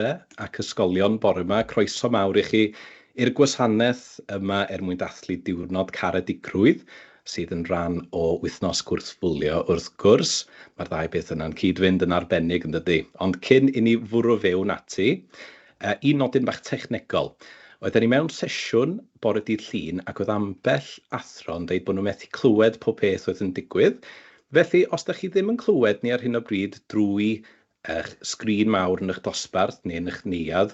Lle ac ysgolion bore ma, croeso mawr i chi i'r gwasanaeth yma er mwyn dathlu Diwrnod Caredigrwydd, sydd yn rhan o Wythnos Gwrthbwlio wrth gwrs. Mae'r ddau beth yna'n cyd-fynd yn arbennig yn dydi? Ond cyn i ni fwrw fewn ati, un nodyn bach technegol. Oedden ni mewn sesiwn bore dydd Llun ac oedd ambell athro yn deud bod nhw methu clywed pob peth oedd yn digwydd, felly os da chi ddim yn clywed ni ar hyn o bryd drwy eich sgrin mawr yn eich dosbarth neu yn eich neuadd,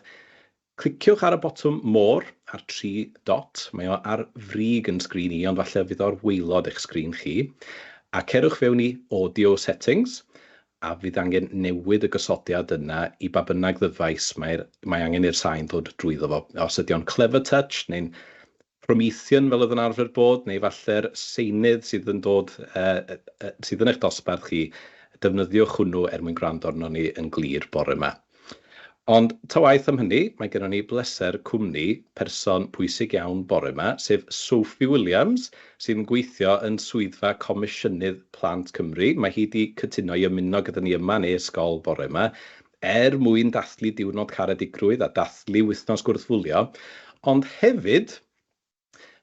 cliciwch ar y botwm 'More' a'r tri dot, mae o ar frig yn sgrin i ond falle fydd o'r waelod eich sgrin chi, a cerwch fewn i 'Audio Settings' a fydd angen newid y gosodiad yna i ba bynnag ddyfais mae'r mae angen i'r sain ddod drwyddo fo, os ydy o'n 'Clever Touch' neu'n Promethean fel oedd yn arfer bod, neu falle'r seinydd sydd yn dod, sydd yn eich dosbarth chi, defnyddiwch hwnnw er mwyn gwrando arnon ni yn glir bore ma. Ond ta waeth am hynny, mae gennon ni bleser cwmni person pwysig iawn bore ma, sef Sophie Williams, sydd yn gweithio yn Swyddfa Comisiynydd Plant Cymru. Mae hi 'di cytuno i ymuno gyda ni yma yn ei ysgol bore ma, er mwyn dathlu Diwrnod Caredigrwydd a dathlu Wythnos Gwrthfwlio, ond hefyd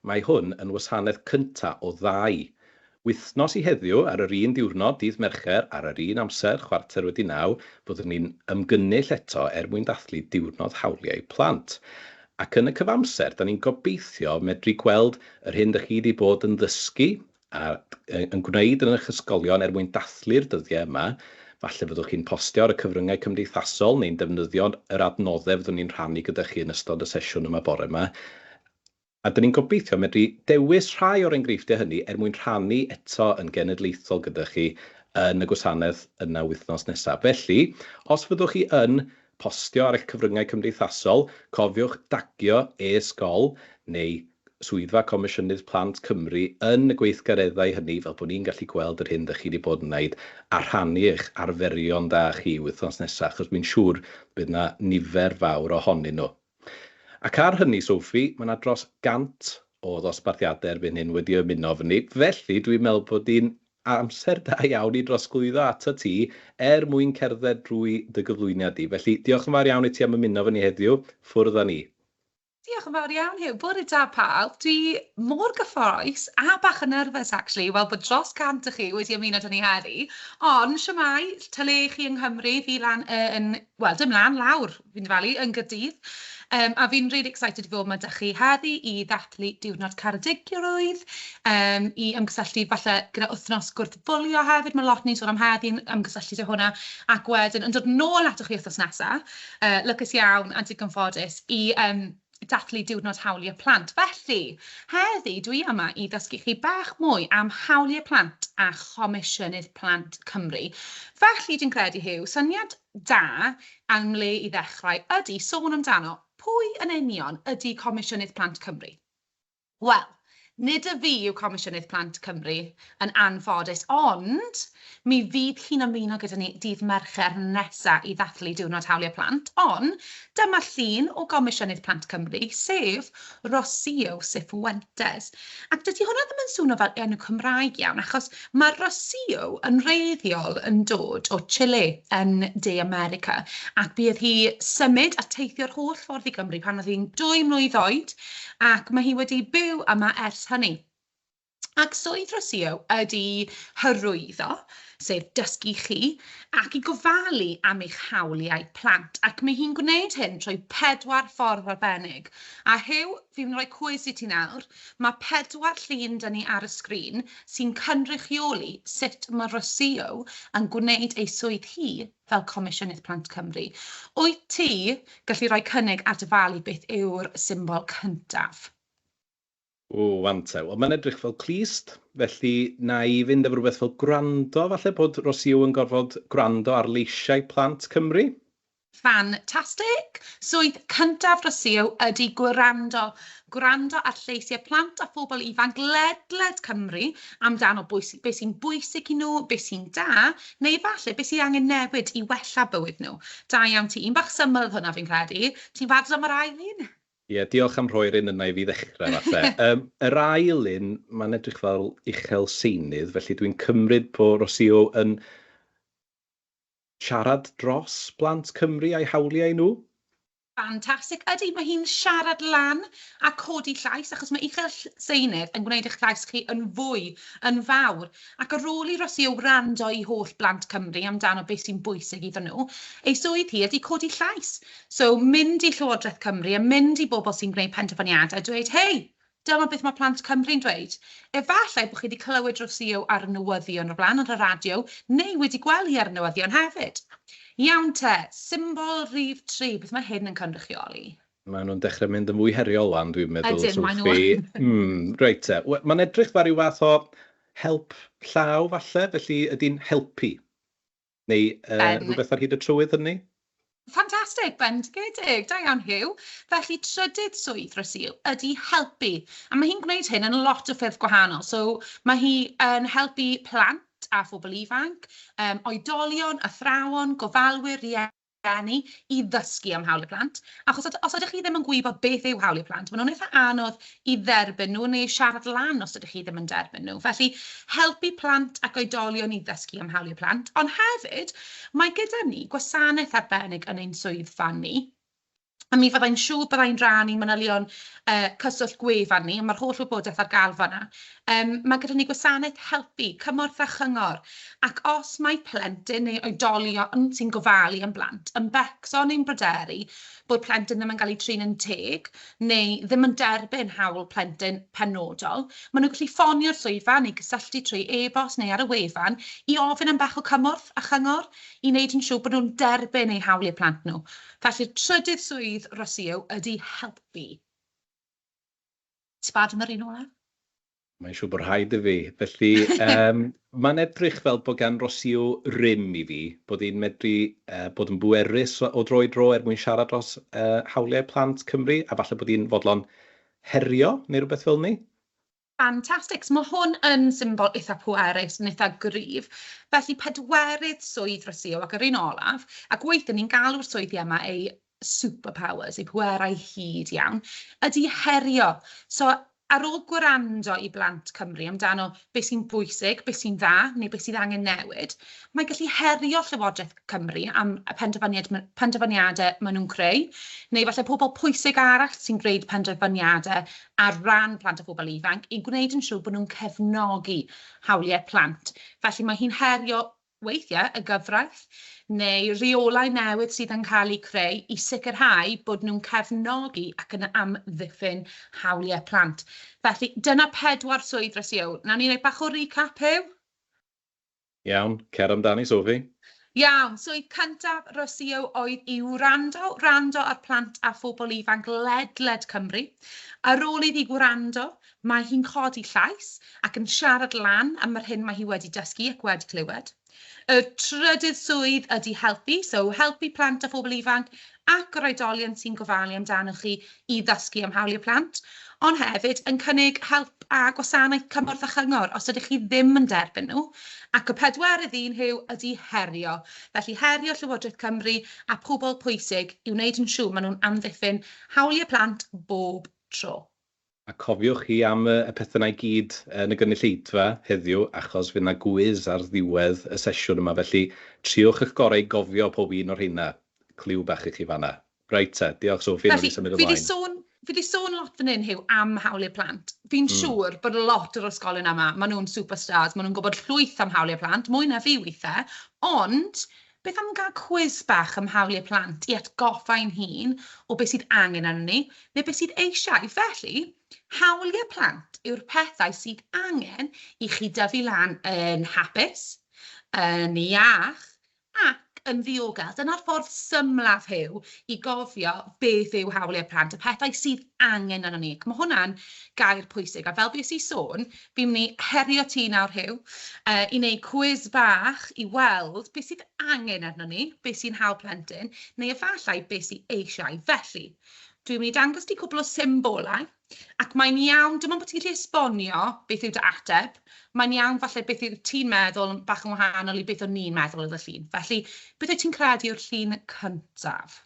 mae hwn yn wasanaeth cynta' o ddau wythnos i heddiw, ar yr un diwrnod, dydd Mercher, ar yr un amser, chwarter wedi naw, byddwn ni'n ymgynnull eto er mwyn dathlu Diwrnod Hawliau Plant. Ac yn y cyfamser, 'da ni'n gobeithio medru gweld yr hyn 'dych chi 'di bod yn ddysgu a yn gwneud yn eich ysgolion er mwyn dathlu'r dyddiau yma. Falle fyddwch chi'n postio ar y cyfryngau cymdeithasol neu'n defnyddio yr adnoddau fyddwn ni'n rhannu gyda chi yn ystod y sesiwn yma bore yma. A dyn ni'n gobeithio medru dewis rhai o'r enghreifftiau hynny er mwyn rhannu eto yn genedlaethol gyda chi yn y gwasanaeth yna wythnos nesaf. Felly, os fyddwch chi yn Postio ar eich cyfryngau cymdeithasol, cofiwch dagio e-sgol neu Swyddfa Comisiynydd Plant Cymru yn y gweithgareddau hynny fel bod ni'n gallu gweld yr hyn 'da chi 'di bod yn wneud a rhannu eich arferion da chi wythnos nesa' achos wi'n siŵr bydd 'na nifer fawr ohonyn nhw. Ac ar hynny Sophie, ma' 'na dros 100 o ddosbarthiadau erbyn hyn wedi ymuno efo ni, felly dwi'n meddwl bod ni'n Amser da iawn i drosglwyddo atat ti er mwyn cerdded drwy dy gyflwyniad di. Felly, diolch yn fawr iawn i ti am ymuno efo ni heddiw. Ffwrdd â ni. Diolch yn fawr iawn Huw. Bore da pawb. Dwi mor gyffrous a bach yn nerfus actually i weld bod dros 100 o chi wedi ymuno 'da ni heddi. Ond shwmae, ta le 'y chi yng Nghymru, fi lan yn, wel, dim lan, lawr Fi'n dyfalu yn Gaerdydd um, a fi'n really excited i fod ma da chi heddi i ddathlu diwrnod caredigrwydd, um, i ymgysylltu falle gyda wythnos gwrthbwlio hefyd, mae lot ni'n sôn am heddi yn ymgysylltu dy hwnna, ac wedyn yn dod nôl ato chi wythnos nesaf, uh, lycus iawn a digon ffodus i um, dathlu diwrnod hawliau plant. Felly, heddi dwi yma i ddysgu chi bach mwy am hawliau plant a chomisiynydd plant Cymru. Felly, dwi'n credu, Hugh, syniad da am le i ddechrau ydy sôn amdano, pwy yn union ydy Comisiynydd Plant Cymru? Wel, nid y fi yw Comisiynydd Plant Cymru, yn anffodus, ond mi fydd hi'n ymuno gyda ni dydd Mercher nesa i ddathlu Diwrnod Hawliau Plant, ond dyma llun o Gomisiynydd Plant Cymru, sef Rossi Iosif Fuentes. Ac dydy hwnna ddim yn swno fel enw Cymraeg iawn, achos mae Rocio yn wreiddiol yn dod o Chile yn De America, ac bydd hi symud a teithio'r holl ffordd i Gymru pan oedd hi'n dwy mlwydd oed, ac mae hi wedi byw yma ers hynny. Ac swydd Rocio ydy hyrwyddo, sef dysgu chi, ac i gofalu am eich hawliau plant. Ac mae hi'n gwneud hyn trwy pedwar ffordd arbennig. A Huw, fi'n rhoi cwis i ti nawr, mae pedwar llun da ni ar y sgrin sy'n cynrychioli sut mae Rocio yn gwneud ei swydd hi fel Comisiynydd Plant Cymru. Wyt ti gallu rhoi cynnig at y falu beth yw'r symbol cyntaf? O, wan te. Wel, mae'n edrych fel clust, felly wna i fynd efo rhywbeth fel gwrando, falle bod Rossio yn gorfod gwrando ar leisiau plant Cymru? Ffantastig! Swydd cyntaf Rossio ydy gwrando. Gwrando ar lleisiau plant a phobl ifanc ledled Cymru amdano bwys- be sy'n bwysig i nhw, be sy'n da, neu falle be sydd angen newid i wella bywyd nhw. Da iawn ti. Un bach syml oedd hwnna, fi'n credu. Ti'n barod am yr ail un? Ie, diolch am rhoi'r un yna i fi ddechrau falle. Yym, yr ail un, mae'n edrych fel uchel seinydd, felly dwi'n cymryd bod Rocío yn siarad dros blant Cymru a'u hawliau nhw? Fantastic. Ydy, mae hi'n siarad lan a codi llais, achos mae uchel seinydd yn gwneud eich llais chi yn fwy, yn fawr. Ac ar ôl i Rocío wrando i holl blant Cymru amdano beth sy'n bwysig iddyn nhw, ei swydd hi ydy codi llais. So, mynd i Llywodraeth Cymru a mynd i bobl sy'n gwneud penderfyniadau a dweud, hei, dyma beth mae plant Cymru'n dweud. Efallai bod chi wedi clywed rhywsio ar y newyddion o'r blaen, ar y radio, neu wedi gweld hi ar y newyddion hefyd. Iawn te, symbol rhif tri, beth mae hyn yn cynrychioli? Maen nhw'n dechrau mynd yn fwy heriol wan, dwi'n meddwl, Ydyn, maen nhw Sophie. yn. Mm, reit te. We- Mae'n edrych fel rhyw fath o help llaw falle, felly ydy'n helpu. Neu uh, ben... rhywbeth ar hyd y trywydd hynny? Ffantastig, bendigedig, da iawn Hugh. Felly, trydydd swydd Rasil ydy helpu, a mae hi'n gwneud hyn yn lot o ffyrdd gwahanol. So, mae hi yn helpu plant a phobl ifanc, um, oedolion, athrawon, gofalwyr, rhieni, rhieni i ddysgu am hawliau plant, achos os os ydych chi ddim yn gwybod beth yw hawliau plant, maen nhw'n eitha' anodd i dderbyn nhw neu siarad lan os ydych chi ddim yn derbyn nhw. Felly, helpu plant ac oedolion i ddysgu am hawliau plant, ond hefyd, mae gyda ni gwasanaeth arbennig yn ein swyddfa ni, a mi fydda i'n siŵr bydda i'n rhan i manylion uh, cyswllt gwefan ni, mae'r holl wybodaeth ar gael fanna. Um, mae gyda ni gwasanaeth helpu, cymorth a chyngor, ac os mae plentyn neu oedolion sy'n gofalu am blant yn becso neu'n bryderu bod plentyn ddim yn cael ei trin yn teg neu ddim yn derbyn hawl plentyn penodol, maen nhw'n gallu ffonio'r swyddfa neu gysylltu trwy e-bost neu ar y wefan i ofyn am bach o cymorth a chyngor i wneud yn siŵr bod nhw'n derbyn eu hawliau plant nhw. Felly'r trydydd swydd rosio ydy helpu. Ti barn yr un olaf? Mae'n siŵr bod rhaid i fi. Felly, um, mae'n edrych fel bod gan rosio rym i fi, bod hi'n medru uh, bod yn bwerus o dro i dro er mwyn siarad dros uh, hawliau plant Cymru, a falle bod hi'n fodlon herio neu rhywbeth fel ni. Fantastic. So mae hwn yn symbol eitha pwerus, yn eitha gryf. Felly pedwerydd swydd dros Io ac yr un olaf, ac weithiau ni'n galw'r swyddi yma eu superpowers, eu pwerau hyd iawn, ydy herio. So ar ôl gwrando i blant Cymru amdano beth sy'n bwysig, beth sy'n dda neu beth sydd angen newid, mae gallu herio Llywodraeth Cymru am y penderfyniad, penderfyniadau maen nhw'n creu, neu falle pobl pwysig arall sy'n gwneud penderfyniadau ar ran plant a phobl ifanc i gwneud yn siŵr bod nhw'n cefnogi hawliau plant. Felly mae hi'n herio weithiau y gyfraith neu reolau newydd sydd yn cael eu creu i sicrhau bod nhw'n cefnogi ac yn amddiffyn hawliau plant. Felly dyna pedwar swydd dros Huw. Nawn ni wneud bach o recap Huw? Iawn, cer amdani Sophie. Iawn, swydd cyntaf Rocío oedd i wrando, wrando ar plant a phobl ifanc ledled Cymru. Ar ôl iddi wrando, mae hi'n codi llais ac yn siarad lan am yr hyn mae hi wedi dysgu ac wedi clywed. Y trydydd swydd ydi helpu, so helpu plant a phobl ifanc ac yr oedolion sy'n gofalu amdanoch chi i ddysgu am hawliau plant, ond hefyd yn cynnig help a gwasanaeth cymorth a chyngor os ydych chi ddim yn derbyn nhw, ac y pedwerydd un hyw ydy herio, felly herio Llywodraeth Cymru a phobl pwysig i wneud yn siŵr maen nhw'n amddiffyn hawliau plant bob tro. A cofiwch chi am y pethau 'na i gyd yn y gynulleidfa heddiw achos fydd 'na gwis ar ddiwedd y sesiwn yma felly triwch y'ch gorau i gofio pob un o'r rheina. Cliw bach i chi fan'na. Reit te, diolch Sophie, nawn ni symud ymlaen. Felly, fi 'di sôn, fi 'di sôn lot fan hyn, Huw, am hawliau plant. Fi'n siŵr bod lot o'r ysgolion yma, ma' nhw'n superstars, ma' nhw'n gwbod llwyth am hawliau plant, mwy na fi withe, ond Beth am gael cwis bach am hawliau plant i atgoffa ein hun o beth sydd angen arnon ni, neu beth sydd eisiau? Felly, hawliau plant yw'r pethau sydd angen i chi dyfu lan yn hapus, yn iach ac yn ddiogel. Dyna'r ffordd symlaf Huw i gofio beth yw hawliau plant, y pethau sydd angen arnon ni. Ac mae hwnna'n gair pwysig, a fel fues i sôn, Fi'n mynd i herio ti nawr, Huw, i wneud cwis bach i weld beth sydd angen arno ni, beth sy'n hawdd plentyn, neu efallai beth sydd eisiau. Felly, dwi'n mynd i dangos ti cwbl o symbolau, ac mae'n iawn, dim ond bod ti'n gallu esbonio beth yw dy ateb, mae'n iawn falle beth yw ti'n meddwl yn bach yn wahanol i beth o'n ni'n meddwl oedd y llun. Felly, beth wyt ti'n credu yw'r llun cyntaf?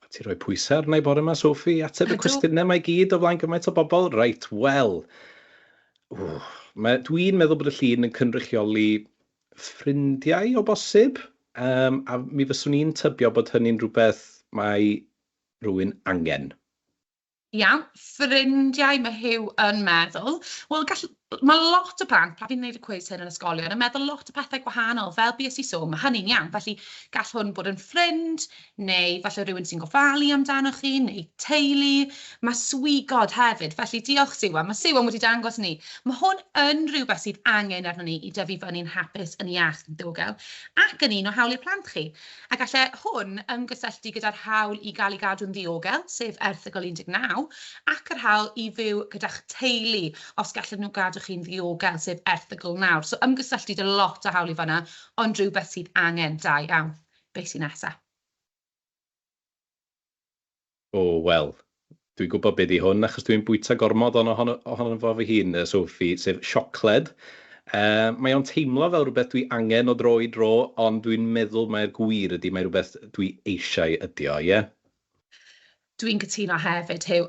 O ti roi pwysa arna i bore ma Sophie i ateb y cwestiyne mae gyd o flaen gymaint o bobl? Reit, wel. Ww, mae, dwi'n meddwl bod y llun yn cynrychioli ffrindiau o bosib, um, a mi fyswn i'n tybio bod hynny'n rhywbeth mae rhywun angen. Iawn, ffrindiau, mae Huw yn meddwl. Wel, gall... mae lot o blant, pan fi'n gwneud y cwis hyn yn ysgolion, yn meddwl lot o pethau gwahanol, fel bues i sôn, mae hynny'n iawn. Felly, gall hwn bod yn ffrind, neu falle rhywun sy'n gofalu amdanoch chi, neu teulu. Mae swigod hefyd, felly diolch Siwan, mae Siwan wedi dangos ni. Mae hwn yn rhywbeth sydd angen arno ni i dyfu fyny'n hapus, yn iach, yn ddiogel, ac yn un o hawliau plant chi. a gallai hwn ymgysylltu gyda'r hawl i gael ei gadw'n ddiogel, sef erthygl 19, ac yr hawl i fyw gyda'ch teulu, os gallen nhw gadw chi'n ddiogel, sef erthygl 9. So ymgysylltu 'da lot o hawliau fan'na, ond rhywbeth sydd angen, da iawn. Be sy'n nesa? O, wel, dwi'n gwybod be ydy hwn, achos dwi'n bwyta gormod ono, ohono, ohono fo fy hun, yy, Sophie, sef siocled. Yy, mae o'n teimlo fel rhywbeth dwi angen o dro i dro, ond dwi'n meddwl mai'r gwir ydy, mae rhywbeth dwi eisiau ydy o, ie? Dwi'n cytuno hefyd, Huw.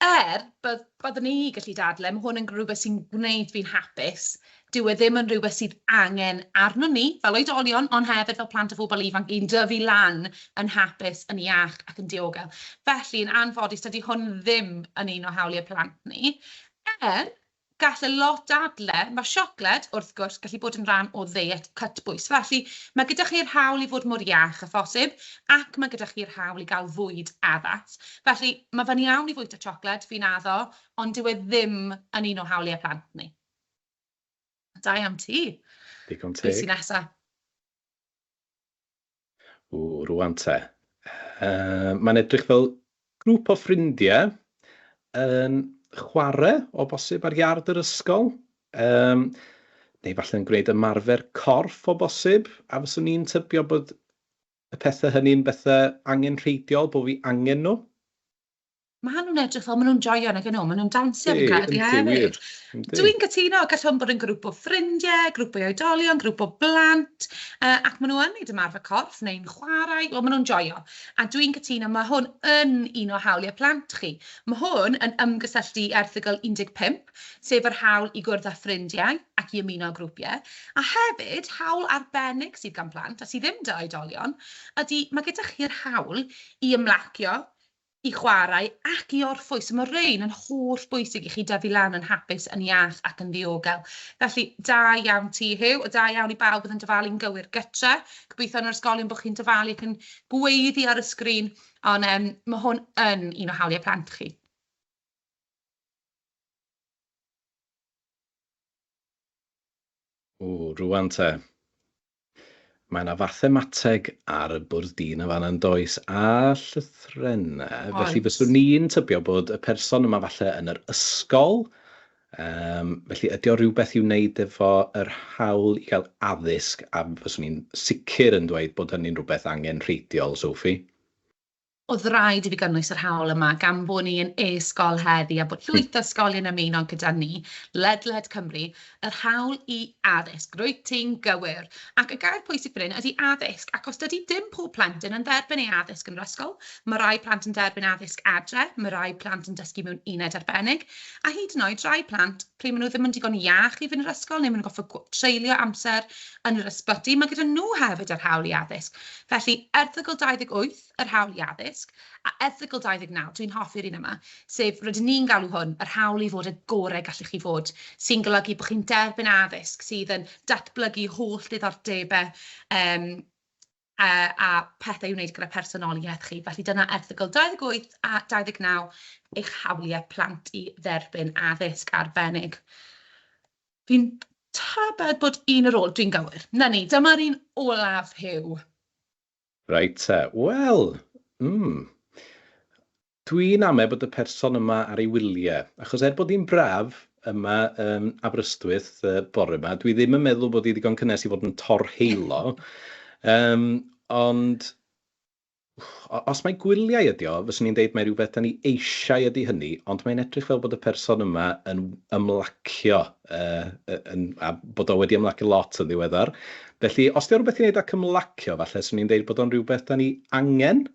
Er, bydd, byddwn i gallu dadle, mae hwn yn rhywbeth sy'n gwneud fi'n hapus, Dyw e ddim yn rhywbeth sydd angen arnon ni fel oedolion, ond hefyd fel plant a phobl ifanc, i'n dyfu lan yn hapus, yn iach ac yn diogel. Felly, yn anffodus, dydy hwn ddim yn un o hawliau plant ni. Er, gall y lot dadle, mae siocled, wrth gwrs, gallu bod yn rhan o ddeiet cytbwys. Felly, mae gyda chi'r hawl i fod mor iach â phosib, ac mae gyda chi'r hawl i gael fwyd addas. Felly, mae fe'n iawn i fwyta siocled, fi'n addo, ond dyw e ddim yn un o hawliau plant ni. Da iawn ti. Digon teg. Be sy'n nesa? O, rwan te. Uh, Mae'n edrych fel grŵp o ffrindiau yn chwarae o bosib ar iard yr ysgol. Um, neu falle yn gwneud ymarfer corff o bosib, a fyswn i'n tybio bod y pethau hynny'n bethau angen rheidiol, bod fi angen nhw. Maen nhw'n edrych fel maen nhw'n joio yn y gynnu, maen nhw'n dawnsio fi'n credu hefyd. Dwi'n gytuno, gallwn hwn bod yn grŵp o ffrindiau, grŵp o oedolion, grŵp o blant, uh, ac maen nhw yn neud ymarfer corff neu'n chwarae, wel maen nhw'n joio. A dwi'n cytuno, mae hwn yn un o hawliau plant chi. Mae hwn yn ymgysylltu i erthygl 15, sef yr hawl i gwrdd â ffrindiau ac i ymuno â grwpiau, a hefyd hawl arbennig sydd gan plant a sydd ddim da oedolion, ydy mae gyda chi'r hawl i ymlacio, i chwarae ac i orffwys. So mae rhein yn holl bwysig i chi dyfu lan yn hapus, yn iach ac yn ddiogel. Felly, da iawn ti, Huw, a da iawn i bawb oedd yn dyfalu'n gywir gytre. Gobeithio yn yr ysgolion bod chi'n dyfalu ac yn gweiddi ar y sgrin, ond um, mae hwn yn un o hawliau plant chi. O, rwan te. Mae 'na fathemateg ar y bwrdd dyn yn fan'na yn does? A llythrennau. Felly Oes. fyswn i'n tybio bod y person yma falle yn yr ysgol. Um, felly ydy o rhywbeth i'w wneud efo yr hawl i gael addysg a fyswn i'n sicr yn dweud bod hynny'n rhywbeth angen rheidiol, Sophie. Oedd raid i fi gynnwys yr hawl yma gan bod ni yn e-sgol heddi a bod llwyth o ysgolion yn ymuno gyda ni ledled Cymru, yr hawl i addysg. Rwyt ti'n gywir. Ac y gair pwysig fan hyn ydy addysg, ac os dydy dim pob plentyn yn dderbyn ei addysg yn yr ysgol, mae rhai plant yn derbyn addysg adre, mae rhai plant yn dysgu mewn uned arbennig, a hyd yn oed rhai plant pryd maen nhw ddim yn digon iach i fynd i'r ysgol neu maen nhw'n gorfod treulio amser yn yr ysbyty, mae gyda nhw hefyd yr hawl i addysg. Felly, erthygl 28, yr hawl i addysg, a erthygl 29, dwi'n hoffi'r un yma, sef, rydyn ni'n galw hwn, yr hawl i fod y gorau gallwch chi fod, sy'n golygu bod chi'n derbyn addysg sydd yn datblygu holl ddiddordebau um, uh, a pethau i wneud gyda personoliaeth chi. Felly dyna erthygl 28 a 29 eich hawliau plant i dderbyn addysg arbennig. Fi'n tybed bod un ar ôl, dwi'n gywir. Na ni, dyma'r un olaf, Hugh. Reit te, wel, mm. Dwi'n ame bod y person yma ar ei wylie, achos er bod hi'n braf yma yn Aberystwyth y bore yma, dwi ddim yn meddwl bod hi ddigon cynnes i fod yn torheilo. Yym, ond o- os mai gwyliau ydi o, fyswn i'n deud mai rhywbeth 'da ni eisiau ydi hynny, ond mae'n edrych fel bod y person yma yn w- ymlacio, yy, yy, yn, a bod o wedi ymlacio lot yn ddiweddar. Felly, os 'di o rhywbeth i wneud â cymlacio, falle 'swn i'n deud bod o'n rhywbeth 'da ni angen.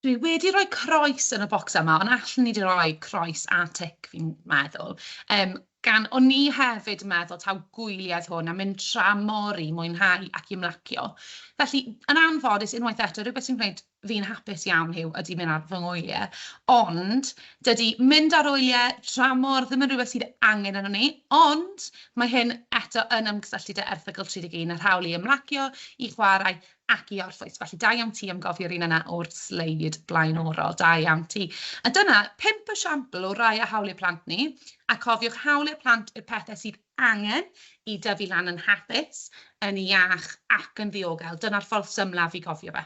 Dwi wedi rhoi croes yn y bocs yma, ond allwn ni wedi rhoi croes a tic, fi'n meddwl. Um, gan, o'n ni hefyd yn meddwl taw gwyliau hwn a mynd tra mor i mwynhau ac i ymlacio. Felly, yn anffodus, unwaith eto, rhywbeth sy'n gwneud fi'n hapus iawn yw ydy mynd ar fy ngwyliau. Ond, dydy mynd ar wyliau tra mor ddim yn rhywbeth sydd angen yno ni, ond mae hyn eto yn ymgysylltu dy erthygl 31 a'r hawl i ymlacio, i chwarae ac i orffwys. Felly, da iawn ti am gofi'r un yna o'r sleid blaenorol. Da iawn ti. A dyna pump esiampl o rai a hawliau plant ni, a cofiwch hawliau plant yw'r pethau sydd angen i dyfu lan yn hapus, yn iach ac yn ddiogel. Dyna'r ffordd symlaf i gofio fe.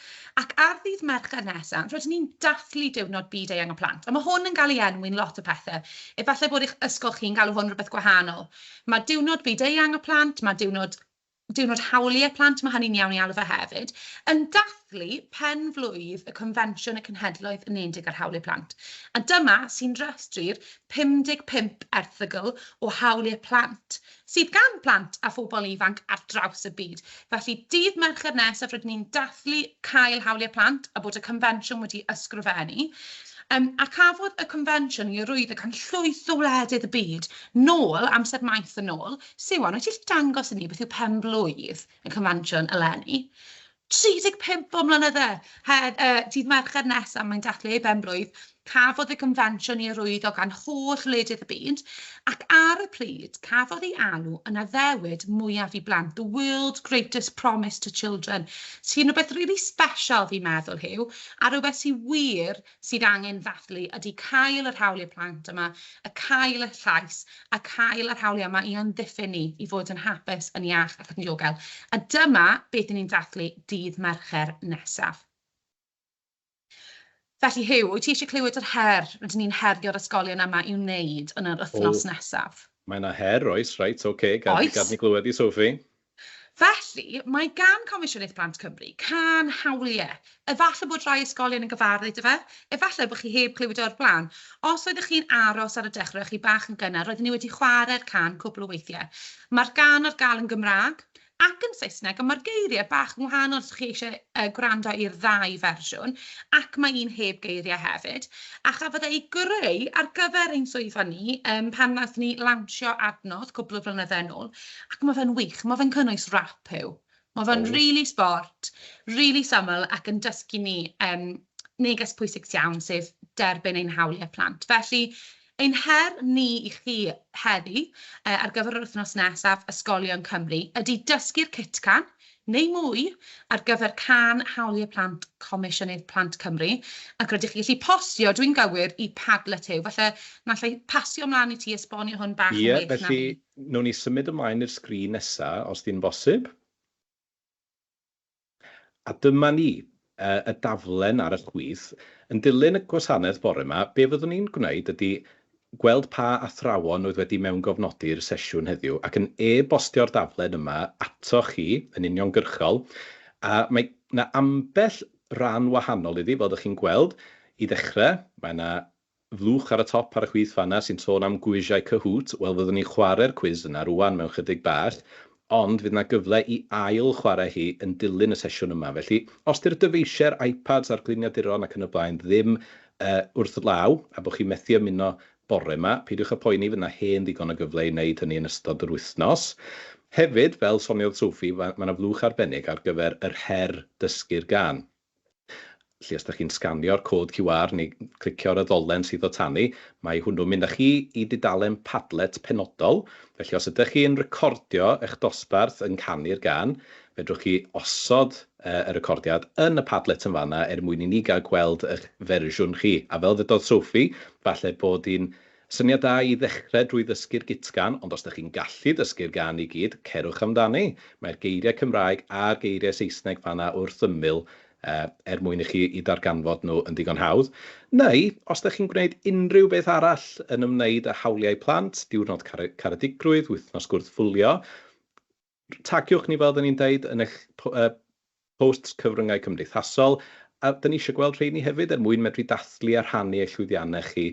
Ac ar ddydd Mercher nesa, rydyn ni'n dathlu Diwrnod Byd Eang y Plant. A mae hwn yn cael ei enwi'n lot o pethau. Efallai bod eich ysgol chi'n galw hwn rhywbeth gwahanol. Mae Diwrnod Byd Eang y Plant, mae Diwrnod Diwrnod Hawliau Plant, mae hynny'n iawn ei alw fe hefyd, yn dathlu pen-flwydd y Confensiwn y Cenhedloedd Unedig ar Hawliau Plant. A dyma sy'n rhestru'r 55 erthygl o hawliau plant sydd gan blant a phobl ifanc ar draws y byd. Felly, dydd Mercher nesaf rydyn ni'n dathlu Cael Hawliau Plant a bod y confensiwn wedi ysgrifennu. Yym, a cafodd y confensiwn ei arwyddo gan llwyth o wledydd y byd nôl, amser maith yn ôl. Siwan, wyt ti gallu dangos i ni beth yw pen-blwydd y confensiwn eleni? 35 o mlynydde! Her, y dydd Mercher nesaf mae'n dathlu ei benblwydd, cafodd y gonfensiwn i arwyddo gan holl wledydd y byd, ac ar y pryd, cafodd ei alw yn addewid mwyaf i blant, the world's greatest promise to children, sy'n rhywbeth rili special fi'n meddwl, Huw, a rhywbeth sydd wir sydd angen ddathlu ydy cael yr hawliau plant yma, y cael y llais, a cael yr hawliau yma i amddiffyn ni, i fod yn hapus, yn iach ac yn ddiogel. A dyma beth i ni'n dathlu dydd Mercher nesaf. Felly Huw, wyt ti eisiau clywed yr her rydyn ni'n herio'r ysgolion yma i'w wneud yn yr wythnos nesaf? Mae yna her, oes, reit, ok, gad, oes. gad ni glywed di Sophie. Felly, mae gan Comisiynydd Plant Cymru cân hawliau. Efallai bod rhai ysgolion yn gyfarwydd â fe, efallai bod chi heb glywed o'r blaen. Os oeddech chi'n aros ar y dechrau a chi bach yn gynnar, roedden ni wedi chwarae'r cân cwpl o weithiau. Mae'r gân ar gael yn Gymraeg ac yn Saesneg, ond mae'r geiriau bach yn wahanol os chi eisiau uh, gwrando i'r ddau fersiwn, ac mae un heb geiriau hefyd. A chafodd ei greu ar gyfer ein swyddfa ni um, pan wnaethon ni lawnsio adnodd cwpl o flynyddau yn ôl. ac mae fe'n wych, mae fe'n cynnwys rap Huw. Mae fe'n oh. really sport, really syml ac yn dysgu ni um, neges pwysig iawn, sef derbyn ein hawliau plant. Felly, ein her ni i chi heddi uh, ar gyfer yr wythnos nesaf Ysgolion Cymru ydy dysgu'r cytcan neu mwy ar gyfer can hawliau plant Comisiynydd Plant Cymru ac rydych chi gallu postio, dwi'n gywir, i Padlet yw. Felly, nallai pasio ymlaen i ti esbonio hwn bach yn yeah, well felly... na fi. Wnawn ni symud ymlaen i'r sgrin nesa, os di'n bosib. A dyma ni, y daflen ar y chwith. Yn dilyn y gwasanaeth bore 'ma, be fyddwn ni'n gwneud ydi gweld pa athrawon oedd wedi mewngofnodi'r sesiwn heddiw ac yn e-bostio'r daflen yma atoch chi yn uniongyrchol. A mae 'na ambell ran wahanol iddi, fel 'dach chi'n gweld. I ddechrau, mae 'na Fluwch ar y top ar y chwith fanna sy'n sôn am gwisiau Kahoot, wel fyddwn ni'n chware'r cwis yna rŵan mewn chydig bach, ond fydd 'na gyfle i ail chware hi yn dilyn y sesiwn yma, felly os 'di'r dyfeisiau'r iPads a'r gliniaduron ac yn y blaen ddim yy wrth law a bo' chi'n methu ymuno bore 'ma, peidiwch â poeni, fydd 'na hen ddigon o gyfle i wneud hynny yn ystod yr wythnos. Hefyd, fel soniodd Sophie, ma' ma' 'na fluwch arbennig ar gyfer yr her dysgu'r gân. Felly os dych chi'n sganio'r cod QR neu clicio ar y ddolen sydd o tan i, mae hwnnw'n mynd â chi i dudalen Padlet penodol. Felly os ydych chi yn recordio eich dosbarth yn canu'r gân, fedrwch chi osod y recordiad yn y Padlet yn fan'na er mwyn i ni gael gweld eich fersiwn chi. A fel ddydodd Sophie, falle bod hi'n Syniad da i ddechrau drwy ddysgu'r gutgan, ond os dych chi'n gallu dysgu'r gan i gyd, cerwch amdani. Mae'r geiriau Cymraeg a'r geiriau Saesneg fan'na wrth ymyl er mwyn i chi i darganfod nhw yn ddigon hawdd. Neu, os dych chi'n gwneud unrhyw beth arall yn ymwneud â hawliau plant, diwrnod caredigrwydd, wythnos gwrthfwlio, Tagiwch ni, fel oedden ni'n deud, yn eich posts cyfryngau cymdeithasol, a da ni eisiau gweld rheini hefyd er mwyn medru dathlu a rhannu eich llwyddiannau chi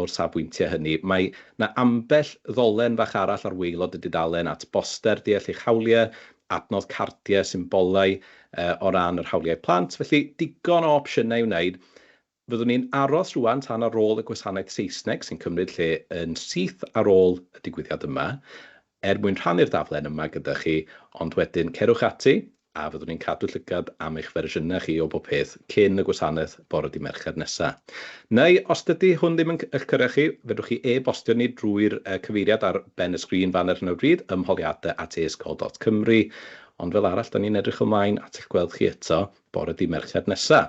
o'r safbwyntiau hynny. Mae 'na ambell ddolen fach arall ar waelod y dudalen at boster deall eich hawliau, adnodd cardiau, symbolau o ran yr hawliau plant, felly digon o opsiynau i wneud Fyddwn ni'n aros rŵan tan ar ôl y gwasanaeth Saesneg sy'n cymryd lle yn syth ar ôl y digwyddiad yma, er mwyn rhannu'r daflen yma gyda chi, ond wedyn cerwch ati a fyddwn ni'n cadw llygad am eich fersiynau chi o bob peth cyn y gwasanaeth bore dydd Mercher nesa. Neu, os dydy hwn ddim yn eich cyrraedd chi, fedrwch chi e-bostio ni drwy'r cyfeiriad ar ben y sgrin fan ar hyn o bryd, ymholiadau at aysgol dot cymru. Ond fel arall, 'da ni'n edrych ymlaen at eich gweld chi eto bore dydd Mercher nesa.